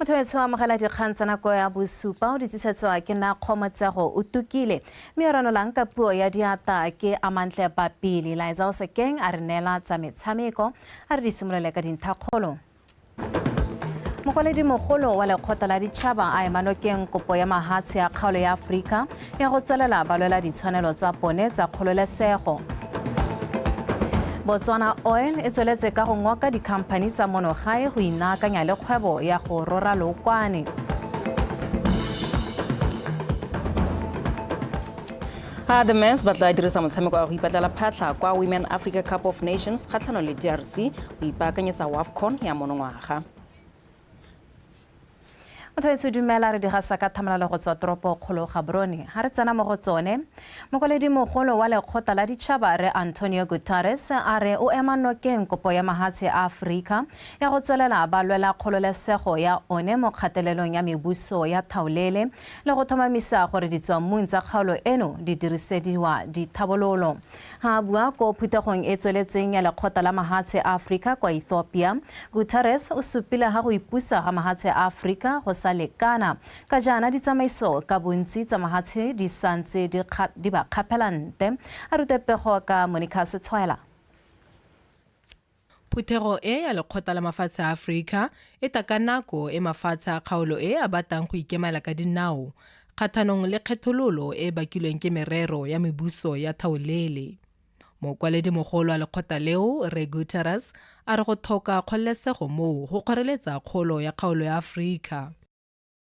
motho o amogela dikgang tsa nako ya bosupa o di tlisetsoa ke na kgomotsego o tukile mme o ranolang ka puo ya diata ke amantle papele laetsa o sekeng a re neela tsa metshameko A re di simolole ka dinthakgolo. Mokwaledi-mogolo wa lekgotla la ditšhaba a ema nokeng kopo ya mahatshe ya kgaolo ya Aforika ya go tswelela ba lwela ditshwanelo tsa bone tsa kgololesego. Botswana Oil e tsweletse ka go ngoka dikhamphani tsa mono gae go inaakanya le kgwebo ya go rora lookwane. A the Mens ba tla dirisa motshameko wa go ipatlela phatlha kwa Women Africa Cup of Nations kgatlhanong le DRC go ipaakanyetsa WAFCON ya monongwaga. Mothoetso dumela re digasa ka thamalalo go tswa toropo kgolo Gaborone. Ha re tsena mo go tsone, mokwaledi mogolo wa lekgotla la ditšhaba re Antonio Guterres a re o ema nokeng kopo ya mahatshe a Aforika ya go tswelela ba lwela kgololesego ya one mo kgatelelong ya mebuso ya thaolele le go thomamisa gore ditswammung tsa kgaolo eno di dirisediwa dithabololo. Ha bua ko phuthegong e tsweletseng ya lekgotla la mahatshe a Afrika kwa Ethiopia, Guterres o supile ga go ipusa ga mahatshe a Afrika go sa lekana, ka jaana ditsamaiso ka bontsi tsa mahatshe di santse di ba kgaphela nte. A rute pego ka Monica Setshwaela. Phuthego e ya Lekgotla la Mafatshe a Aforika e ta ka nako e mafatshe a kgaolo e a batang go ikemela ka dinao kgathanong le kgethololo e e bakilweng ke merero ya mebuso ya thaolele. Mokwaledi-mogolo wa lekgotla leo, Rre Guterres, a re go thoka kgololesego moo go kgoreletsa kgolo ya kgaolo ya Aforika.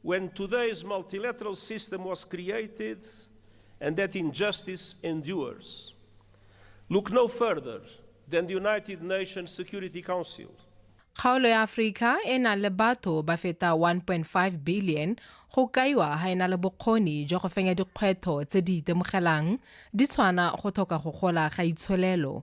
When today's multilateral system was created and that injustice endures. Look no further than the United Nations Security Council. kgaolo ya aforika e na le batho ba feta 1.5 billion go kaiwa ga e na le bokgoni jwa go fenya dikgwetlho tse di itemogelang di tshwana go tlhoka go gola ga itsholelo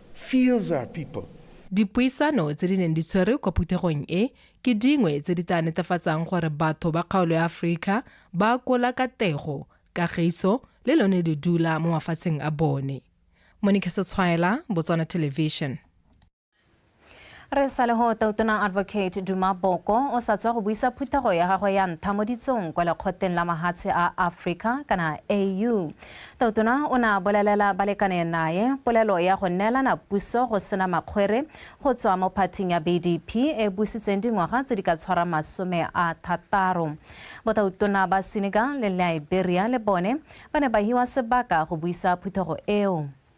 fears our people. Dipuisano tse di neng di tshwerwe kwa phuthegong e ke dingwe tse di tla netefatsang gore batho ba kgaolo ya Aforika ba akola katego, kagiso le lone ledula mo mafatsheng a bone. Monique Setshwaela, Botswana Television. re sa le go tautona advocate duma boko o sa tswa go buisa phuthego ya gagwe ya ntha mo ditsong kwa lekgotleng la mahatshe a africa kana au tautona o ne a bolelela balekane naye polelo ya go neelana puso go sena makgwere go tswa mo phathing ya bdp e busitseng dingwaga tse di ka tshwara masome a thataro botautona ba senegal le liberia le bone ba ne ba hiwa sebaka go buisa phuthego eo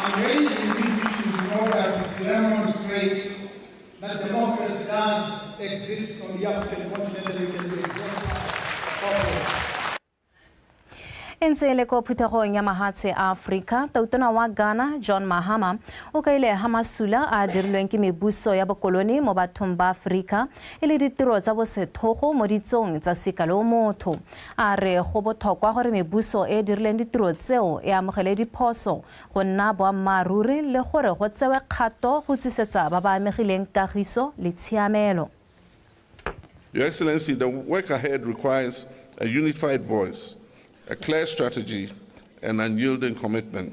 I'm raising these issues in order to demonstrate that democracy does exist on the African continent. We can be exemplars. e ntse e le ko phuthegong ya mahatshe a aforika tautona wa ghana john mahama o kaile ga masula a a dirilweng ke mebuso ya bokolone mo bathong ba aforika e le ditiro tsa bosethogo mo ditsong tsa sekalo motho A re go bothokwa gore mebuso e e dirileng ditiro tseo e amogele diphoso, go nna boammaaruri le gore go tsewe kgato go tlisetsa ba ba amegileng kagiso le tshiamelo. Your Excellency, the work ahead requires a unified voice, a clear strategy and unyielding commitment.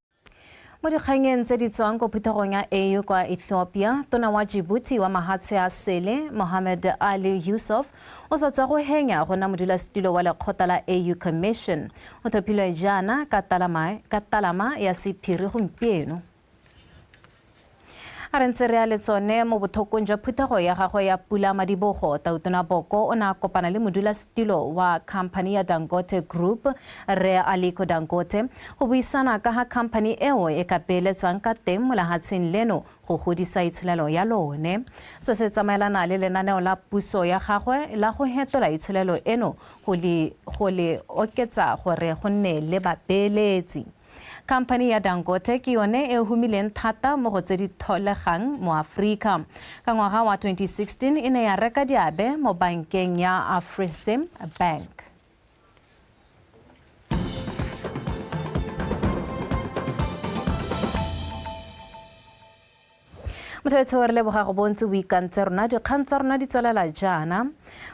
Mo dikganyeng tse di tswang ko phuthegong ya AU kwa Ethiopia, tona wa Djibouti wa mahatshe a sele, Mohamed Ali Yusuf, o sa tswa go henya go nna modulasetilo wa lekgotla la AU Commission. O thopilwe jaana ka talama ya sephiri gompieno. A re ntse re ya le tsone mo bothokong jwa phuthego ya gagwe ya Pula Madibogo, Tautona Boko o ne a kopana le modulasetilo wa khamphani ya Dangote Group, Rre Aliko Dangote, go buisana ka ga khamphani eo e ka beeletsang ka teng mo lehatsheng leno go godisa itsholelo ya lone. Se se tsamaelana le lenaneo la puso ya gagwe la go hetola itsholelo eno go le oketsa gore go nne le babeeletsi. Khamphani ya Dangote ke yone e humileng thata mo go tse di tholegang mo Aforika. Ka ngwaga wa 2016 e ne ya reka diabe mo bankeng ya Afrexim Bank. Mothobetsho re leboga go bontse o ikantse rona dikgang tsa rona di tswelela jaana.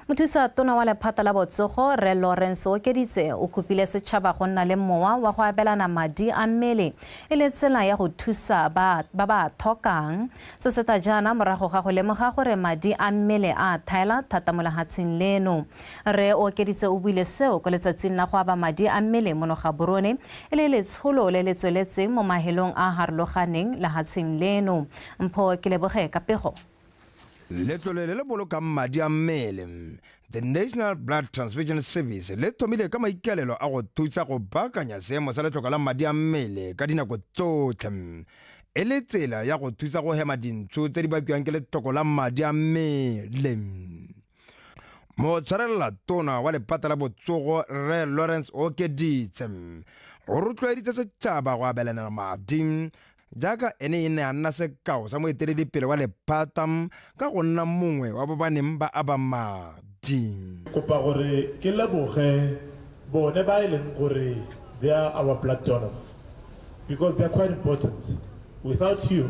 Mothusa tona wa lephata la botsogo Rre Lawrence Okeditse o kopile setšhaba go nna le mowa wa go abelana madi a mmele e le tsela ya go thusa ba ba ba thokang. Se seta jaana morago ga go lemoga gore madi a mmele a thaela thata mo lehatsheng leno. Rre Okeditse o buile seo ko letsatsing la go aba madi a mmele mono Gaborone e le letsholo le le tsweletseng mo mahelong a a harologaneng lehatsheng leno. Mpho Keleboge ka pego. Letlole le le bolokang madi a mmele, The National Blood Transfusion Service, le thomile ka maikaelelo a go thusa go baakanya seemo sa letlhoka la madi a mmele ka dinako tsotlhe e le tsela ya go thusa go hema dintsho tse di bakiwang ke letlhoko la madi a mmele. motshwarelela tona wa lepata la botsogo rre lawrence okeditse o rotloeditse setšhaba go abelanela madi jaaka ene e ne a nna sekao sa moeteledipele wa lephata ka go nna mongwe wa ba ba neng ba aba madi kopa gore ke leboge bone ba e leng gore they are our blood donors because they are quite important without you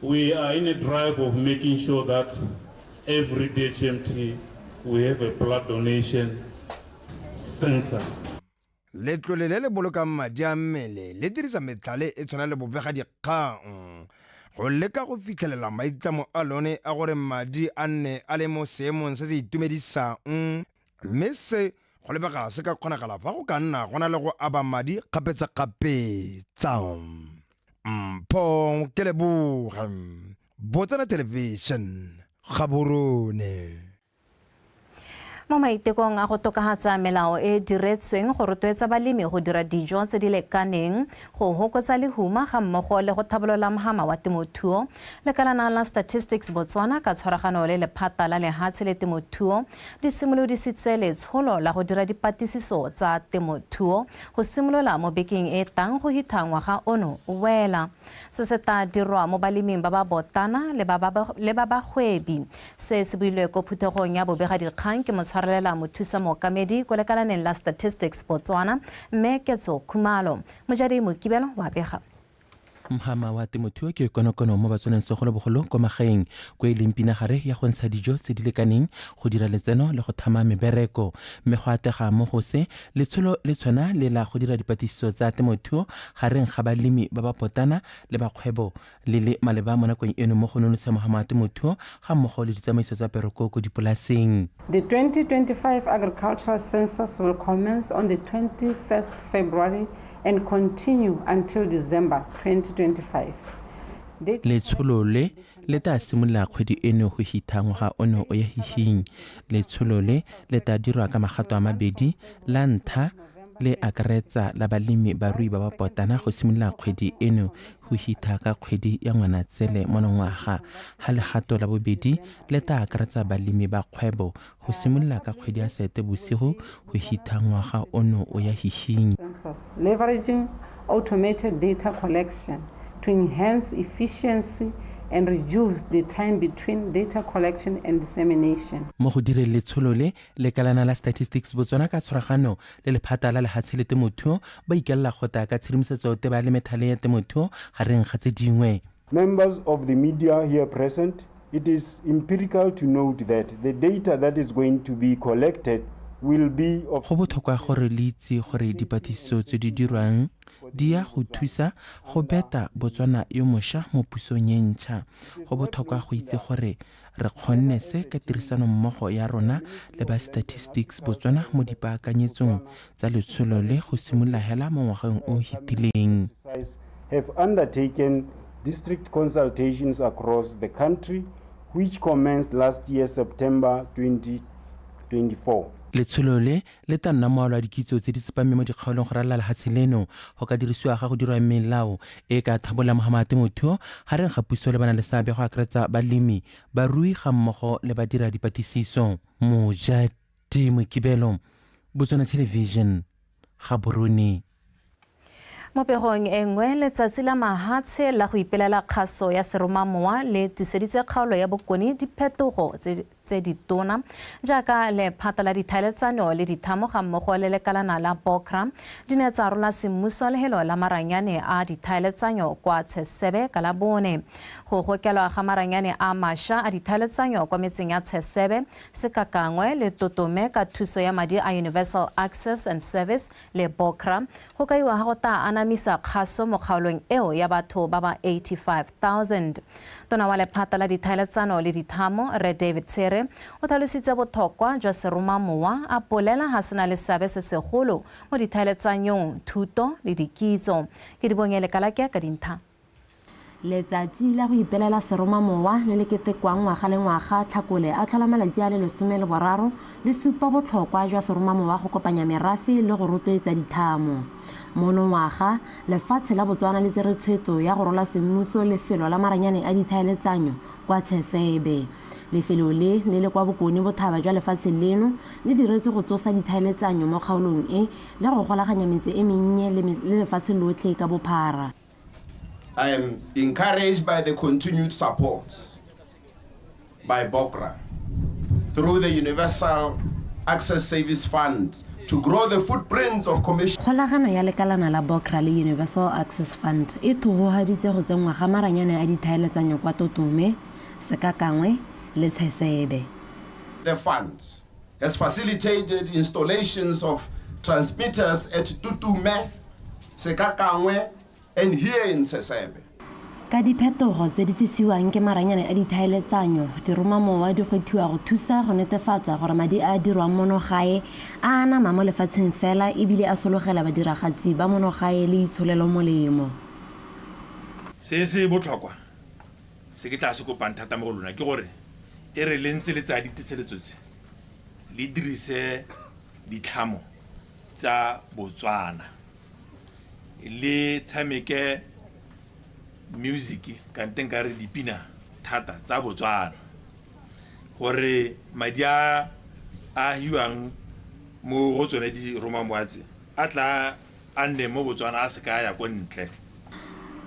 We are in a drive of making sure that every DHMT we have a blood donation center. Letlole le le bolokang madi a mmele le dirisa metlhale e tshwana le bobega dikgang go leka go fitlhelela maitlamo a lone a gore madi a nne a le mo seemong se se itumedisang mme se go lebega se ka kgonagala fa go ka nna go na le go aba madi kgapetsakgapetsa. mpong ke leboga botsana television gaborone mo maitekong a go tokagatsa melao e diretsweng go rotloetsa balemi go dira dijo tse di lekaneng go hokotsa lehuma ga mmogo le go thabolola mohama wa temothuo lekalana la statistics botswana ka tshwaragano le lephata la lehatshe le temothuo di simolodisitse letsholo la go dira dipatisiso tsa temothuo go simolola mo bekeng e tang go hitha ngwaga ono o wela. Se se tla dirwa mo baleming ba ba botana le ba ba- le ba bagwebi. Se se builwe ko phuthegong ya bobegadikgang ke motshwarelela mothusa mookamedi ko lekalaneng la Statistics Botswana, Mme Ketso Khumalo. Mojadei Mokibelo wa bega. mhama wa temothuo ke konokono mo batswaneng segolobogolo kwa magaeng ko e leng pinagare ya go ntsha dijo tse di lekaneng go dira letseno le go thama mebereko mme go atega mo gose letsholo le tshwana le la go dira dipatlisiso tsa temothuo gareng ga balemi ba ba potana le bakgwebo le le maleba mo nakong eno mo go nonotsha mohama wa temothuo ga mmogo le ditsamaiso tsa peroko ko dipolaseng. The 2025 Agricultural Census will commence on the 21st February and continue until December 2025. Letsholo le le tla simolola kgwedi eno go hitha ngwaga ono o ya hihing. Letsholo le le tla dirwa ka magato a mabedi, la ntlha le akaretsa la balemi barui ba ba potana go simolola kgwedi eno go hitha ka kgwedi ya ngwanatsele monongwaga ga legato la bobedi le tla akaretsa balemi ba kgwebo go simolola ka kgwedi ya sete bosigo go hitha ngwaga ono o ya hihinyi leveraging automated data collection to enhance efficiency and reduce the time between data collection and dissemination mo go direng letsholo le Lekalana la Statistics Botswana ka tshwaragano le lephata la lehatshe le temothuo ba ikelela gota ka tshedimosetso teba le methale ya temothuo gareng ga tse dingwe. Members of the media here present, it is empirical to note that the data that is going to be collected will be of. Go botlhokwa gore le itse gore dipatlisiso tse di dirwang di ya go thusa go beta Botswana yo mosha mo pusong e ntšha. Go botlhokwa go itse gore Re kgonne se ka tirisanommogo ya rona le ba Statistics Botswana mo dipaakanyetsong tsa letsholo le go simolola hela mo ngwageng o o fetileng. have undertaken district consultations across the country which commenced last year September 2024. Letsholo le le tla nna moalo a dikitso tse di tsepameng mo dikgaolong go ralala lefatshe leno go ka dirisiwa ga go dirwa melao e e ka thabolang mogama a temothuo gareng ga puso le bana le seabe go akaretsa balemi barui ga mmogo le badira dipatlisiso mojati mokibelo botswana television gaborone Mo pegong e nngwe, Letsatsi la Mahatshe la go Ipelela Kgaso ya Seromamowa le tliseditse kgaolo ya Bokone diphetogo tse ditona, jaaka lephata la dithaeletsano le dithamo ga mmogo le lekalana la Bokra di ne tsa rola semmuso lehelo la maranyane a dithaeletsanyo kwa Tshesebe ka Labone. Go gokelwa ga maranyane a masha a dithaeletsanyo kwa metseng ya Tshesebe, Sekakangwe le Totome ka thuso ya madi a Universal Access and Service le Bokra, go kaiwa ga go taa anamisa kgaso mo kgaolong eo ya batho ba ba 85,000. Tona wa lephata la dithaeletsano le dithamo, Rre David Tshere, o tlhalositse bothokwa jwa seromamowa, a bolela ga se na le seabe se segolo mo dithaeletsanyong, thuto le dikitso. Kedibonye Lekalake ka dintha. Letsatsi la go ipelela seromamowa le le ketekwang ngwaga le ngwaga Tlhakole a tlhola malatsi a le lesome le boraro le supa botlhokwa jwa seromamowa go kopanya merafe le go rotloetsa dithamo. Monongwaga, lefatshe la Botswana le tsere tshwetso ya go rola semmuso lefelo la maranyane a dithaeletsanyo kwa Tsheseebe. Lefelo le, le le kwa bokone bothaba jwa lefatshe leno, le diretswe go tsosa dithaeletsanyo mo kgaolong e le go golaganya metse e mennye le lefatshe lotlhe ka bophara. I am encouraged by the continued support by BOCRA through the Universal Access Service Fund to grow the footprints of commission kgolagano ya lekalana la bocra le universal access fund e thogogaditse go tsenngwa ga maranyane a dithaeletsanyo kwa totome sekakangwe le tshesebe the fund has facilitated installations of transmitters at Tutume, Sekakangwe, and here in Sesebe. ka diphetogo tse di tsisiwang ke maranyane a dithaeletsanyo diromamowa di kgwethiwa go thusa go netefatsa gore madi a a dirwang mono gae a anama mo lefatsheng fela ebile a sologela badiragatsi ba mono gae le itsholelo molemo Se se botlhokwa Se ke tlaa se kopang thata mo go lona ke gore e re le ntse le tsaya diteseletso tse, le dirise ditlhamo tsa Botswana, le tshameke music kante nka re dipina thata tsa Botswana gore madi a a hiwang mo go tsone di romang a tla A nne mo Botswana a se ka a ya ko ntle.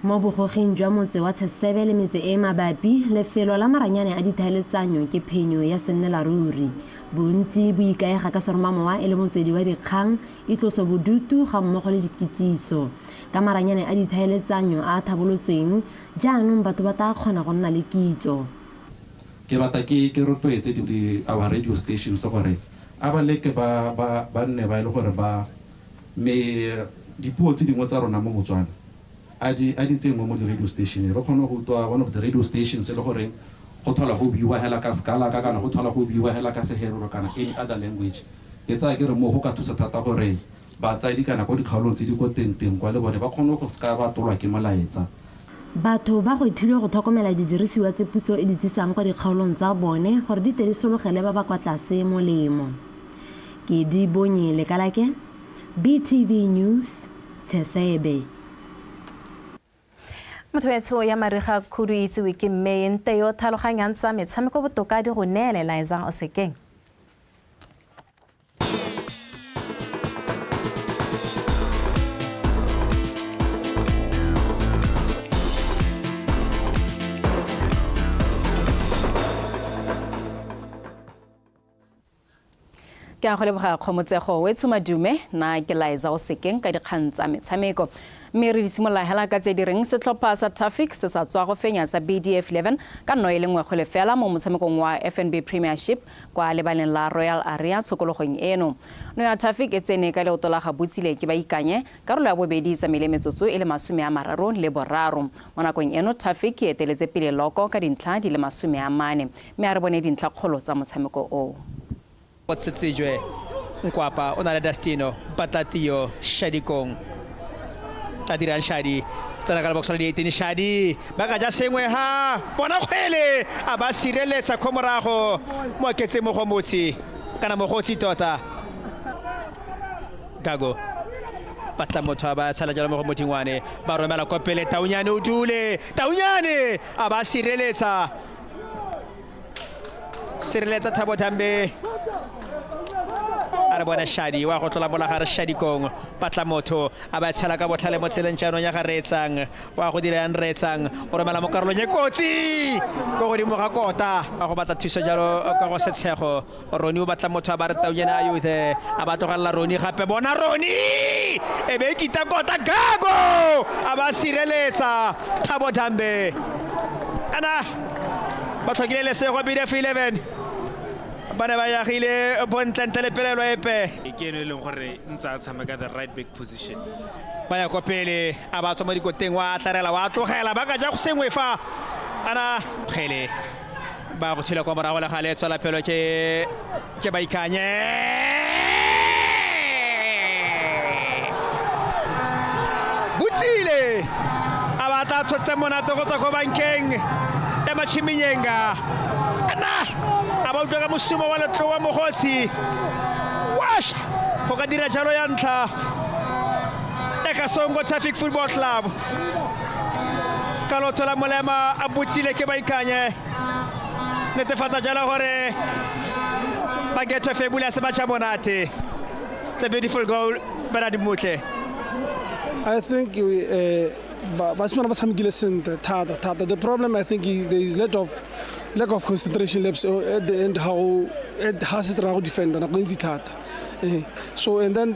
Mo bogoging jwa motse wa Tsesebe le metse e e mabapi, lefelo la maranyane a dithaeletsanyo ke phenyo ya sennelaruri. Bontsi bo ikaega ka seromamowa e le motswedi wa dikgang, itlosobodutu ga mmogo le dikitsiso. Ka maranyane a dithaeletsanyo a a thabolotsweng, jaanong batho ba taa kgona go nna le kitso. Ke rata ke ke rotloetse di our radio stations gore a ba leke ba ba ba nne ba e le gore ba Me dipuo tse dingwe tsa rona mo Botswana a di a di tsengwe mo di-radio station re kgone go utlwa one of the radio stations e le goreng go thola go buiwa hela ka sekalaka kana go thola go buiwa hela ka seherero kana any other language ke tsaya ke re moo go ka thusa thata gore batsadi kana ko dikgaolong tse di ko teng teng kwa le bone ba kgone go seka ba tolwa ke molaetsa Batho ba gwetlhilwe go tlhokomela didirisiwa tse puso e di tsisang kwa dikgaolong tsa bone gore di tle di sologele ba ba kwa tlase molemo. Ke di bonye lekalake, BTV News, Tsheseebe. Mothoetsho ya mariga khudu e itsewe ke mme e nte yo tlhaloganyang tsa metshameko botoka di go neela elaezang o sekeng. ke a go leboga kgomotsego o e tshomadume na ke laeza o sekeng ka dikgang tsa metshameko mme re di simolola hela ka tse di reng setlhopha sa tafic se sa tswa go fenya sa bdf 11 ka nno e le nngwe go lefela mo motshamekong wa fnb premiership kwa lebaleng la royal area tshokologong eno no ya tafic e tsene ka leoto la ga botsile ke ba ikanye karolo ya bobedi tsamaile metsotso e le masome a mararo le boraro mo nakong eno tafic e eteletse pele loko ka dintlha di le masome a mane Mme a re bone dintlhakgolo tsa motshameko oo. Tsetsejwe Nkwapa o na le Dastino Mpatlatio Shadikong Tadiran Shadi tsena ka lebokosana dieitini Shadi ba ka ja sengwe ha bona kgwele a ba sireletsa kho morago mo oketse mogomotsi kana mogotsi tota Gago batla motho a ba tshala jalo mo go mothingwane ba romela kopele Taunyane o dule Taunyane a ba sireletsa sireletsa thabo thambe a re bona shadi wa go tlola mola gare shadi kong patla motho a ba tshela ka botlhale mo tseleng jaanong ya ga reetsang wa go dira yang reetsang o romela mo karolong e kotsi ko godimo ga kota wa go batla thuso jalo ka go setshego roni o batla motho a ba re taunyana a yothe a ba tlogelela roni gape bona roni e be e kita kota gago a ba sireletsa thabo dambe ana ba tlhokile lesego bdf 11 ba ne ba yagile bontlentle le pelelo epe e ke eno e leng gore ntse a tshameka the right back position ba ya kwa pele a ba tswa mo dikoteng wa tlarela wa tlogela ba ka ja go sengwe fa ana kgele ba go tshela kwa morago le gale e tswela pelo ke ke ba ikanye botlile a batla a tshotse monate go tswa ko bankeng e machiminyenga ana a ba utlwa ka mosumo wa letlo wa mogosi washa go ka dira jalo ya ntlha e ka songo traffic football club ka lotshola molema a botsile ke ba ikanye netefatsa jalo gore ba getho febula se batšha monate it's a beautiful goal bernard motle i think we, uh, basimane ba tshamekile sentle thata thata the problem i think is there is lack of lack of concentration laps uh, at the end how ga se tera go defenda nako e ntsi thata eh, so and then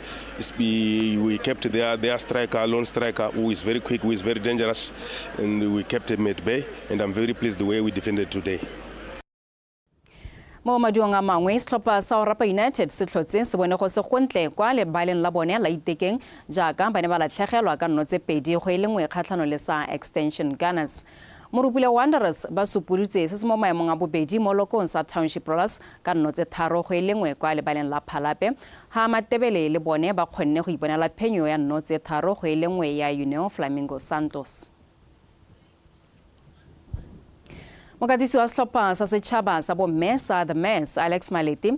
We, we kept their, their striker, lone striker, who is very quick, who is very dangerous, and we kept him at bay. And I'm very pleased the way we defended today. mo maduong a mangwe setlhopha sa orapa united se tlhotse se bone go se gontle kwa lebaleng la bone la itekeng jaaka ba ne ba latlhegelwa ka nno tse pedi go e le nngwe kgatlhano le sa extension gunners Morupule Wanderers ba supulitse se se mo maemong a bobedi mo lokong sa Township Rollers ka nno tse tharo go e le nngwe kwa lebaleng la Phalape, ha Matebele le bone ba kgonne go iponela phenyo ya nno tse tharo go e le nngwe ya União Flamingo Santos. Mokatisi wa setlhopha sa setšhaba sa bomme sa The Mares, Alex Maleti,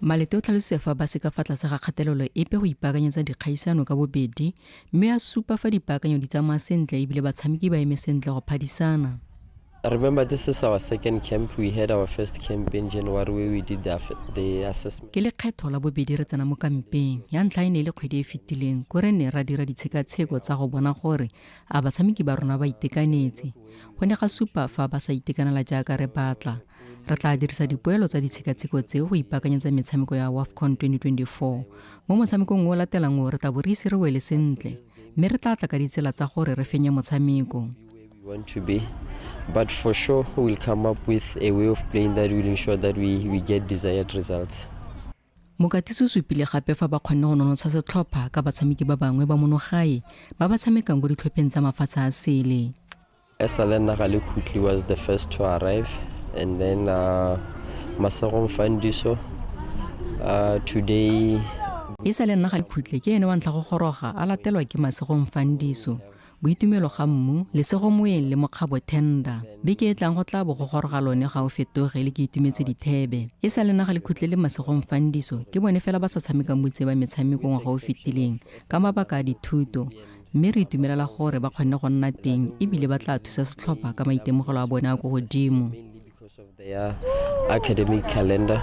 Malete o tlhalositse fa ba se ka fa tlase ga kgatelelo epe go ipaakanyetsa dikgaisano ka bobedi mme a supa fa dipaakanyo di tsamaya sentle ebile batshameki ba eme sentle go phadisana. I remember this is our second camp. We had our first camp in January where we did the, the assessment. Ke lekgetho la bobedi re tsena mo kampeng. Ya ntlha e ne le kgwedi e fetileng ko re ne ra dira ditshekatsheko tsa go bona gore a batshameki ba rona ba itekanetse. Go ne ga supa fa ba sa itekanela jaaka re batla. re tla dirisa dipoelo tsa ditshekatsheko tse go ipaakanyetsa metshameko ya wafcon 2024 mo motshamekong o latelang o re tla bo re ise re wele sentle mme re tla tla ka ditsela tsa gore re fenye motshameko want to be. But for sure, we'll come up with a way of playing that will ensure that we, we get desired results. Mokatisi o supile gape fa ba kgonne go nonotsha setlhopha ka batshameki ba bangwe ba monogae ba ba tshamekang ko ditlhopheng tsa mafatshe a sele. Esale naga le khutli was the first to arrive and then uh, Masegong Fandiso uh, today e sa le nna ga ikhutle ke ene wa ntlha go goroga a latelwa ke masegong fandiso Boitumelo ga mmu, lesego moeng le mokgabo thenda. Beke e tlang go tla bo go goroga lone ga o fetoge le ke itumetse dithebe. E sa le naga le khutlele masegong fandiso, ke bone fela ba sa tshamekang boitse ba metshameko ngwaga o fetileng ka mabaka a dithuto, mme re itumelela gore ba kgonne go nna teng e bile ba tla thusa setlhopha ka maitemogelo a bone a ko godimo. because of their academic calendar.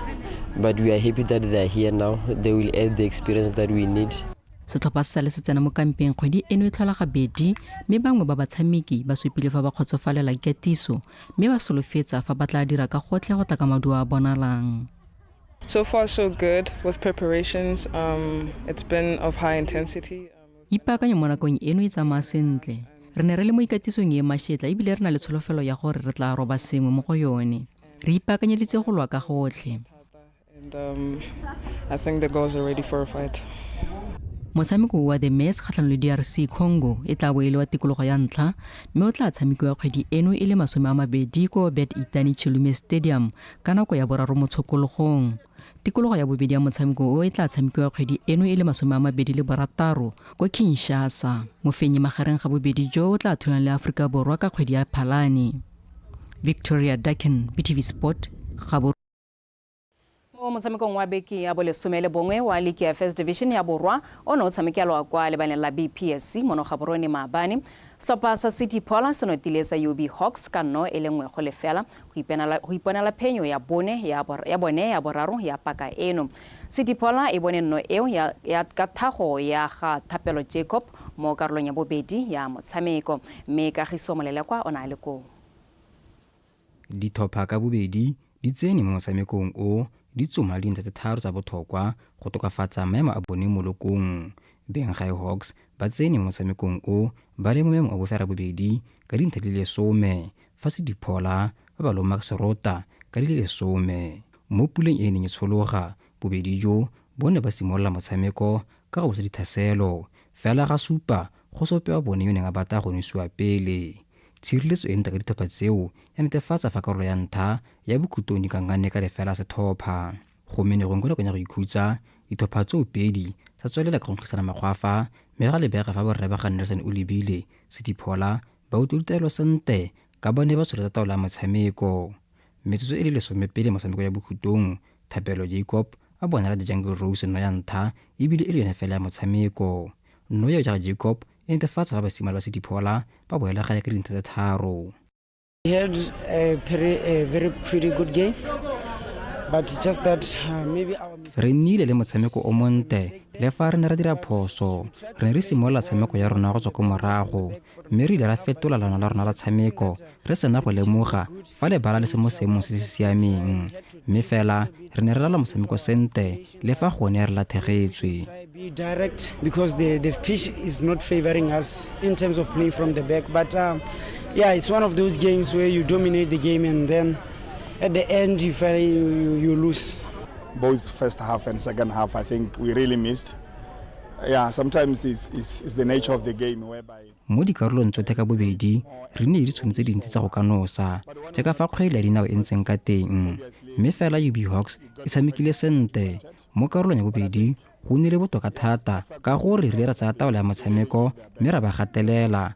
But we are happy that they are here now. They will add the experience that we need. setlhopha se sale se tsena mo kampeng kgwedi eno e tlhola gabedi mme bangwe ba batshameki ba supile fa ba kgotsofalela ikatiso mme ba solofetsa fa ba tla dira ka gotlhe go tla ka maduo a bonalang So far, so good with preparations. Um, it's been of high intensity. ipaakanye mo nakong eno e tsamaya sentle re ne re le mo ikatisong e mašetla ebile re na le tsholofelo ya gore re tla roba sengwe mo go yone re ipaakanyeditse go lwa ka gotlhe um, motshameko wa the mass kgatlhang le drc congo e tla bo e le wa tikologo ya ntlha mme o tla tshamekiwa kgwedi eno e le masome a mabedi ko bet itani chilume stadium ka nako ya boraro motshokologong tikologo ya bobedi ya motshameko o e tla tshamekiwa kgwedi eno e le masome a mabedi le borataro ko kinshasa mofenyi magareng ga bobedi jo o tla thulana le aforika borwa ka kgwedi ya phalane victoria duckin btv sport gabo mo motshamekong wa beke ya bolesome le bongwe wa liki ya first division ya borwa o ne o tshamekelwa kwa lebaneng la bpsc mono gaborone maabane setlhopha sa city pola se notile sa ub hawks ka nno e le nngwe go lefela go ipenela go iponela phenyo ya bone ya bor- ya bone ya boraro ya paka eno sediphola e bone nno eo ya, ya ka thago ya ga thapelo jacob mo karolong ya bobedi ya motshameko mme kagiso molelekwa o ne a le koo Ditlhopha ka bobedi di tsene mo motshamekong o di tsoma dintlha tse tharo tsa botlhokwa go tokafatsa maemo a bone mo lokong. Benghai Hawks ba tsene mo motshamekong o ba le mo maemong a bofera bobedi ka dintlha di le lesome fa se diphola ba ba lomag serota ka di le lesome mo puleng e e neng e tshologa. Bobedi jo bo ne ba simolola motshameko ka go bosa dithaselo fela ga supa go se ope wa bone yo neng a batla go nosiwa pele. Tshireletso e ntle ka ditlhopha tseo ya netefatsa fa karolo ya ntlha ya bokhutlong di kankane ka lefela setlhopha. Gomme ne gongwe kwa nakong ya go ikhutsa, ditlhopha tseo pedi tsa tswelela ka go nkgisana makgwafa mme ga lebega fa borre ba ga Nelson o lebile se diphola Ba utlwe ditaelo sentle ka ba ne ba tsholotsa taolo ya motshameko. Metsotso e le lesome pele motshameko ya bokhutong, Thapelo Jacob a bonala The Jungle Rose nno ya ntlha ebile e le yone fela ya motshameko. Nno eo jaaka Jacob e netefatsa fa basimane ba Sediphola ba boela gae ka dintlha tse tharo. We had a very, a very pretty good game, but just that uh, maybe our mistake. Re nnile le motshameko o montle le fa re ne ra dira phoso. Re ne re simolola tshameko ya rona go tswa ko morago. mme re ile ra fetola lana la rona la tshameko re sena go lemoga fa lebala le se mo seemong se se siameng mme fela re ne re lala motshameko sente le fa gone re lathegetswe because the, the pitch is not favoring us in terms of playing from the back but um, yeah it's one of those games where you dominate the game and then at the end you, you, you lose both first half and second half i think we really missed Yeah, sometimes it's, it's, it's the nature of the game whereby mo dikarolong tsotlhe ka bobedi re ne di tshwanetse dintsi tsa go ka nosa jaaka fa kgwele ya dinao e ntseng ka teng mme fela ub hawks e tshamekile sentle mo karolong ya bobedi go nnile botoka thata ka gore re ile ra tsaya taolo ya motshameko mme ra ba gatelela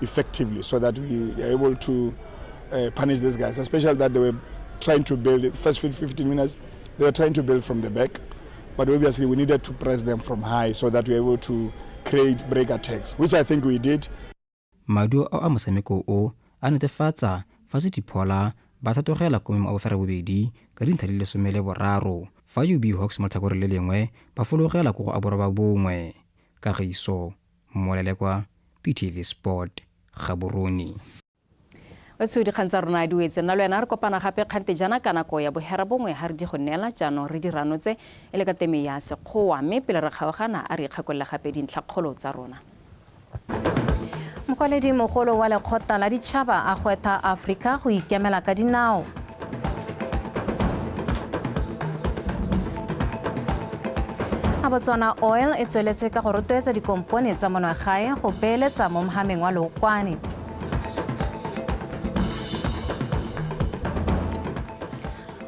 effectively so that we are able to uh, punish these guys, especially that they were trying to build it. First 15 minutes, they were trying to build from the back, but obviously we needed to press them from high so that we were able to create break attacks, which I think we did. maduo a mosameko o a netefatsa fa se diphola ba thatogela ko memo a bofera bobedi ka dintlha di lesome le boraro fa ub hawks mo tlhakore le lengwe ba fologela ko go aborwa ba bongwe kagiso molele kwa ptv sport gaborone o tseo dikgang tsa rona di wetse nna le wena re kopana gape kgante jana ka nako ya bohera bongwe ga re di go neela jaanong re dirano tse e le ka teme ya sekgowa mme pele re kgaogana a re ikgakolole gape dintlhakgolo tsa rona mokwaledi mogolo wa lekgotla la ditšhaba a gwetha aforika go ikemela ka dinao a botswana oil e tsweletse ka go rotloetsa dikompone tsa monwagae go beeletsa mo mogameng wa lookwane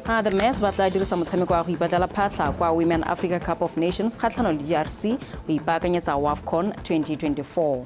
a the mass ba tla dirisa motshameko wa go ipatlela phatlha kwa women africa cup of nations kgatlhano le drc go ipaakanyetsa wafcon 2024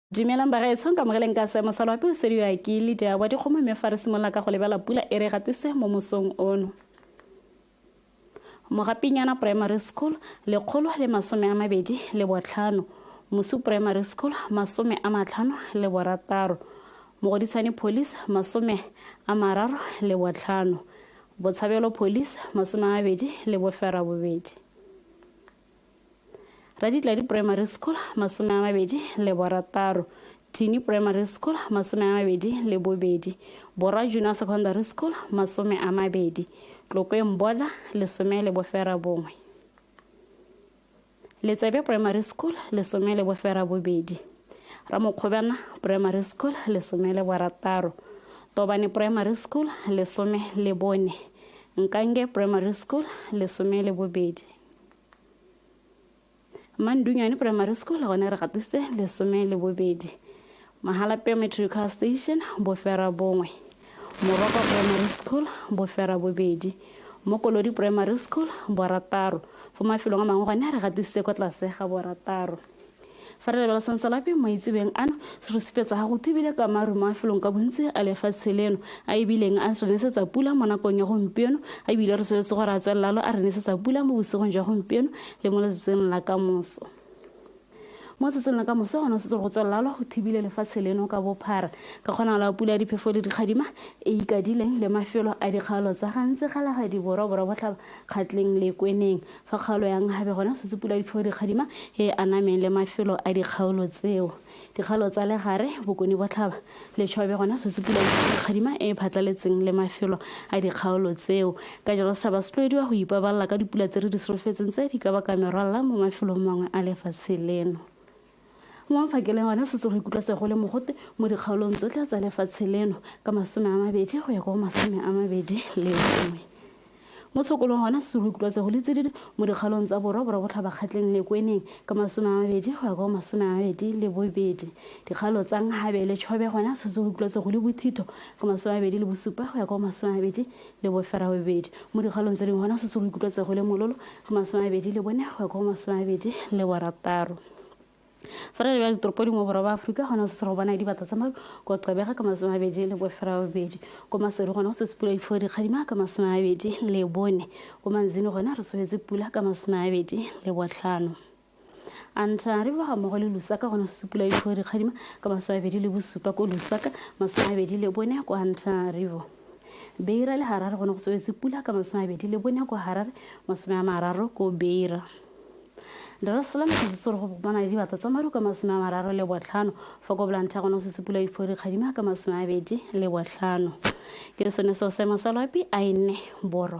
Dumelang bagaetsho ka mogeleng ka seemo sa loapi o sediwa ke leader wa dikgomo mme fa re simolola ka go lebela pula e re gatise mo mosong ono mogapinyana primary school lekgolo le masome a mabedi le botlhano mosu primary school masome a matlhano le borataro mogodisane police masome a mararo le botlhano botshabelo police masome a mabedi le bofera bobedi raditladi primary school masome a mabedi le borataro tini primary school masome a mabedi le bobedi borwa junior secondary school masome a mabedi tlokweng bola lesome le bofera bongwe letsebe primary school lesome le bofera bobedi ramokgobana primary school lesome le borataro tobane primary school lesome le bone nkange primary school lesome le bobedi mandunyane primary school gone re gatise lesome le bobedi mahalapeo metrical station bofera bongwe moroko primary school bofera bobedi mo kolodi primary school borataro fo mafelong a mangwe gone re gatisitse kwa tlase ga borataro fa re lebala sansalape maitsebeng ano se re supetsa ga go thibile ka maru mo mafelong ka bontsi a lefatshe leno a ebileng a re nesetsa pula mo nakong ya gompieno a ebile re soletse gore a tswelelalo a re nesetsa pula mo bosigong jwa gompieno le mo letsatsing la ka moso mo tsatsing la ka moso gone setse go tswelelalo go thibile lefatshe leno ka bophara ka kgonagalo ya pula ya diphefo le dikgadima e ikadileng le mafelo a dikgaolo tsa gantsi ga lagadiboroborwa botlhaba kgatleng le kweneng Fa kgaolo ya Nhabe gona Setsopula Diphoo Dikgadima e anameng le mafelo a dikgaolo tseo, dikgaolo tsa Legare, Bokone Botlhaba, le Tšhobe gona Setsopula Diphoo Dikgadima e e phatlaletseng le mafelo a dikgaolo tseo. Ka jalo setšhaba se tlwaediwa go ipabalela ka dipula tse re di solofetseng tse di ka baka merwalela mo mafelong mangwe a lefatshe leno. Mo mafakeleng one setse go ikutlwa se go le mogote mo dikgaolong tsotlhe tsa lefatshe leno ka masome a mabedi go ya kwa go masome a mabedi le nngwe. Mo tshokolong gona setse go ikutlwa se go le tsididi mo dikgaolong tsa borwa borwa botlhabakgatleng le kweneng ka masome a mabedi go ya kwa go masome a mabedi le bobedi. Dikgaolo tsa Nhabe le Chobe gona setse go ikutlwa se go le bothitho ka masome a mabedi le bosupa go ya kwa go masome a mabedi le bofera bobedi. Mo dikgaolong tse dingwe gona setse go ikutlwa tsego le mololo go masome a mabedi le bone go ya ko go masome a mabedi le borataro. Fa re lebela ditoropo dingwe borwa ba Aforika gona setse go bona dibata tsa maru ko Qebega ka masome a mabedi le bofera bobedi. Ko Maseru gona go tswetse pula difo dikgadima ka masome a mabedi le bone. Ko Manzini gona re tswetse pula ka masome a mabedi le botlhano. a ntlha re boga mmogo le lusaka gona sesupula e difoe dikgadima ka masomabedi le bosupa ko lusaka masomabedi le bone kwa ntlha rivo beira le harare gone go tswetse pula ka masomabedi le bone kwa harare masome a mararo ko beira Darasala motšhitso re go bopana le dibata tsa maru ka masome a mararo le botlhano fa ko bolantha gona go sesupula difoe dikgadima ka masome a bedi le botlhano ke sone seo seemo sa loapi a e nne borwa